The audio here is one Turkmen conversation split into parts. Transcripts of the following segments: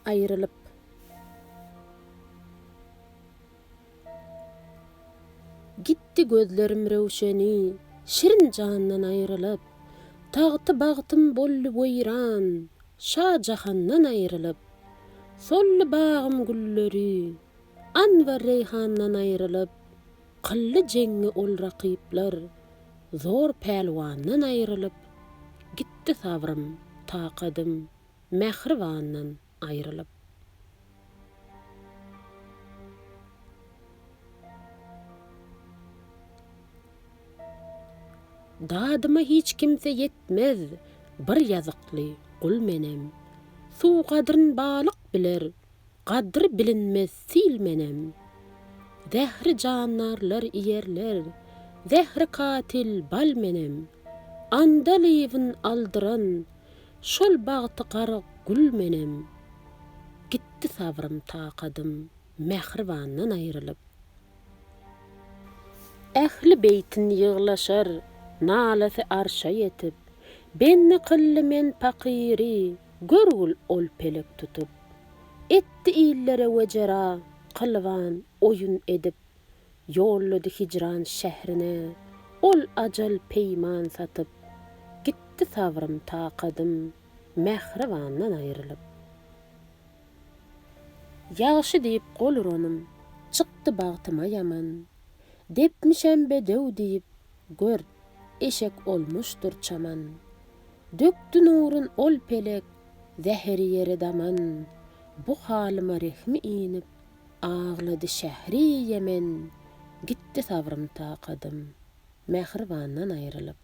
aýrylyp. Gitdi gözlerim röwşeni, şirin jandan aýrylyp, Tagty bagtym boldy weýran, şa jahandan aýrylyp. Soldy bagym gülleri, anbar reýhandan aýrylyp. Kylly jeňňi ol rakyplar zor pälwandan aýrylyp gitdi sabrym, takadym mähribandan aýrylyp. Dadyma hiç kimse ýetmez bir ýazykly gul menem suw gadryn balyk biler Gadry bilinmez sil menem. Zähri jandarlar iýerler. Zähri katil bal menem. Andalybyn aldyran. Şol bagty garyk gül menem. Gitdi sabrym-takadym. Mähribandan aýrylyp. Ähli beýtin ýyglaşar, nalasy arşa ýetip. Bendi kyldy men pakyry, görgül ol pelek tutup. Etdi illere wejera, kylwan oýun edip. Ýollady hijran şährine, ol ajal peýman satyp. Gitdi sabrym-takadym, mähribandan aýrylyp. Ýagşy diýip gol uranym, çykdy bagtyma ýaman. Depmişem bedew diýip, gör, eşek olmuşdyr çaman. Dökdi nurun ol pelek, zäheri ýere daman. Bu halyma rehmi inip, aglady şähri Ýemen. Gitdi sabrym-takadym, mähribandan aýrylyp.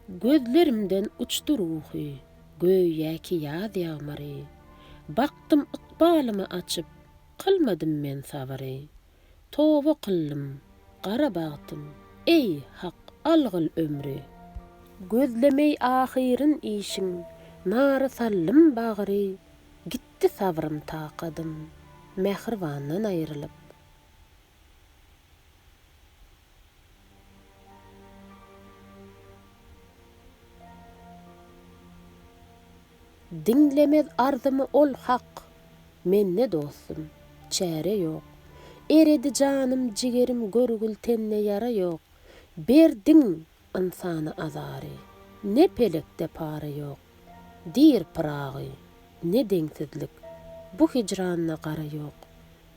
Gözlerimden uçdy ruhy, göýä ki ýaz ýagmyry. Bakdym ykbalymy açyp, kylmadym men sabyry. Toba kyldym, gara bagtym, eý, Hak, algyl ömri. Gözlemeý ahyryn işiň, nara saldym bagry. Gitdi sabrym-takadym, mähribandan aýrylyp. Diňlemez arzymy ol hak, mende dostum, çäre ýok. Eredi janym, jigerim, görgül tende ýara ýok. Berdiň ynsana azary, ne pelekde para ýok. Diýr Pyragy, ne deňsizlik, bu hijranda gara ýok.